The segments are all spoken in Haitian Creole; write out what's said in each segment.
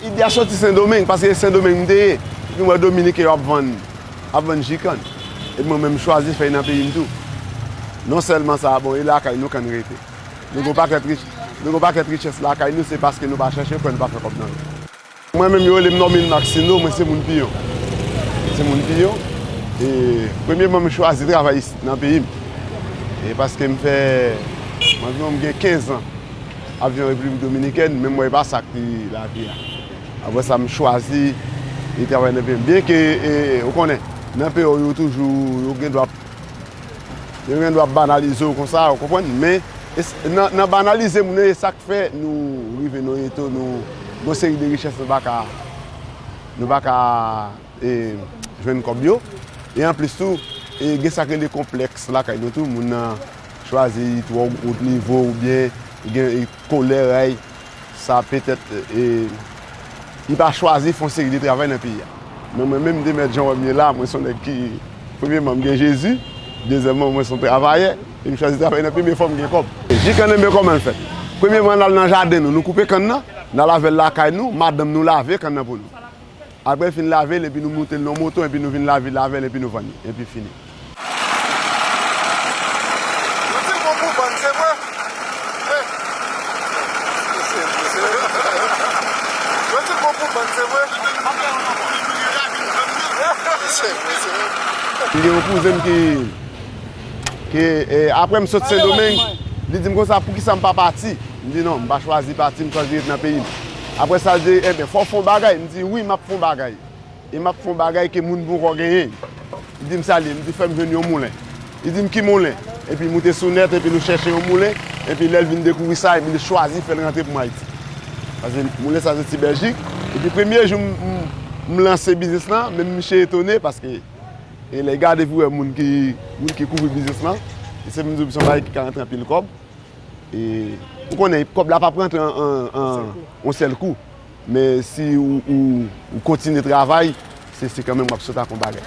Ide a soti Sendomeng, paske se Sendomeng m te ye. Epi m wè Dominiken yo ap vann, ap vann ji kann. Epi mwen menm m chwazi fè nan peyi m tou. Non sèlman sa, bon e lakay nou kann rete. Nou gen yon pakèt richès lakay nou, se paske nou pa chèche yo fè nou pa fè kòb nan yo. Mwen menm yo rele m Normil Maxino, mwen se moun Piyon. Mwen se moun Piyon, e premyeman m chwazi travay isit nan peyi m. E paske m fè, anviwon m gen 15 an ap viv an Repiblik Dominikèn, men m wè e pa sa ki lavi a. Apre sa m chwazi travay nan peyi m. Byenke, ou konnen, nan peyi w yo toujou, yo gen dwa. Yo gen dwa banalize w konsa, ou konprann? Men, nan banalize moun yo, e sa k fè nou rive nan yon eto nou gen yon seri de richès nou pa ka jwenn kòb yo. E anplis tou, gen sa k rele konplèks lakay nou tou. Moun nan chwazi twò wo nivo oubyen gen kolè. Sa petèt li pa chwazi fè yon seri de travay nan peyi a. Men mwen menm de mèt jan wè m ye la, mwen se yon nèg ki, premyeman m gen Jezi, dezyèmman mwen se yon travayè e m chwazi travay nan premye fwa m gen kòb. Ji kannenbe kòman l fèt? Premyeman n al nan jaden nou, nou koupe kann nan, n al ave l lakay nou, madanm nou lave kann nan pou nou. Apre fin lave l epi nou moute l nan yon moto epi nou vin lavi l avè l epi nou vann li. Epi fini. M gen yon kouzen m ki ki apre m sot sendomeng li di m konsa poukisa m pa pati m di non m pa chwazi pati m chwazi ret nan peyi m. Apre sa l di, Enben, fò w fè yon bagay. M di, Wi, m ap fè yon bagay. E m ap fè yon bagay ke moun ponkò genyen. Li di m, Sa l ye? M di, Fè m jwenn yon moulen. Li di m, Ki moulen? Epi l moute sou nèt epi l chèche yon moulen. Epi lè l vin dekouvri sa, epi li chwazi fè l rantre pou m Ayiti. Paske moulen sa soti Bèljik. Epi premye jou m lanse biznis lan, menm miche etone paske lè l gade epi l wè moun ki kouvri biznis lan, li se m di w se yon bagay ki ka rantre anpil kòb. E ou konnen kòb la pap rantre an yon sèl kou. Men si ou kontinye travay, se kanmenm wap sot ak yon bagay.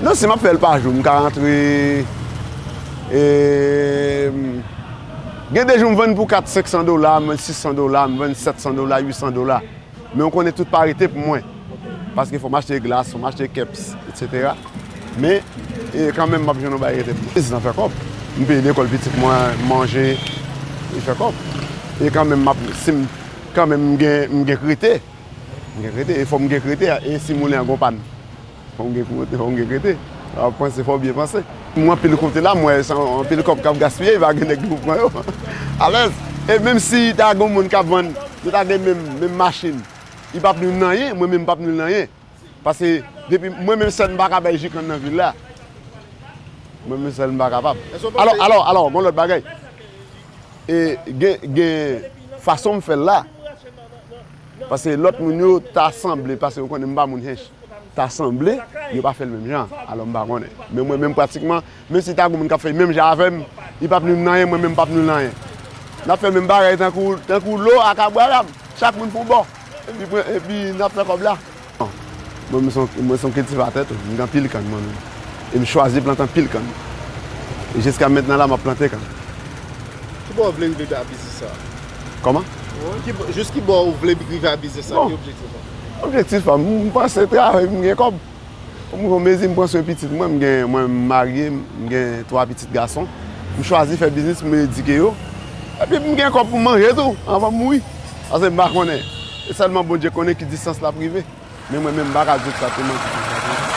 Non si map fèl pa jou, m ka rantre e gen de jou m vann pou 4, 500 dola, m vann 600 dola, m vann 700 dola, 800 dola. Men ou konnen tout pa rete pou mwen. Paske fòm achte glas, fòm achte keps, etc. Men, e kanmenm map jwenn yon bagay rete pou mwen. Biznis lan fè kòb. M peye lekòl pitit mwen, m manje, li fè kòb. E kanmenm map, si m, kanmenm m gen, m gen krite. M gen krite, e fòm gen krite, e si moulen an gen yon pàn. Fò w gen pou monte, fò w gen rete. Lè w ap panse, fò w byen panse. Mwen anpil kote la, mwen wè se anpil kòb k ap gaspiye, e pa gen nèg ki pou pran yo. Alèz! E menm si ta gen yon moun k ap vann, nou ta gen menm machin, li pap nou nan anyen, mwen menm m pap nou nan anyen. Pase, depi, mwen menm sèl m pa ka bay ji kann nan vil la. Mwen menm sèl m pa kapab. Alò, alò, alò, gen yon lòt bagay. E gen, gen fason m fè l la. Pase lòt moun yo ta sanble pase yo konnen m pa moun Hinche. ta sanble yo pa fèl menm jan alò m pa konnen men mwen menm pratikman menm si ta gen moun kap fèl menm jan avèm li pap nwi m nan anyen mwen menm pap nwi l nan anyen nap fè menm bagay tankou tankou lo ak abraram chak moun pou yon bò epi pran epi nap fè kòb la mwen menm mwen son kiltivatè tou m gen anpil kann mwen menm e m chwazi plante anpil kann e jiska mentnan la map plante kann. Ki bò ou vle rive a biznis sa a? Kòman? Jis ki bò ou vle rive a biznis sa a ki objektif ou? Objektif pa m, m panse travay pou m gen kòb. M gen yon mezi m pran swen pitit mwen, mwen m marye, m gen 3 pitit gason. M chwazi fè biznis pou m edike yo. Epi pou m gen kòb pou m manje tou anvan m mouri. Pase m pa konnen, se sèlman Bondye konnen ki distans l ap rive. Men mwen menm m pa ka di w egzakteman ki distans li ye.